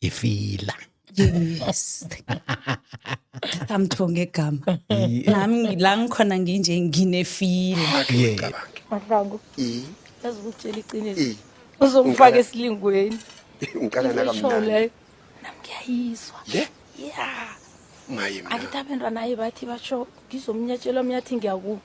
ifila yes amthonge igama nami la ngikhona nginje nginefila mahlangu yazi ukutshela iqiniso uzongifaka esilingweni ngiqala nakamnandi nam ngiyayizwa le ya maye mina angithi abentwana aye bathi basho ngizomnyatshelwa mnyathi ngiyakuba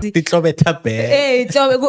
Titlobetha bag. Eh, tlobe ku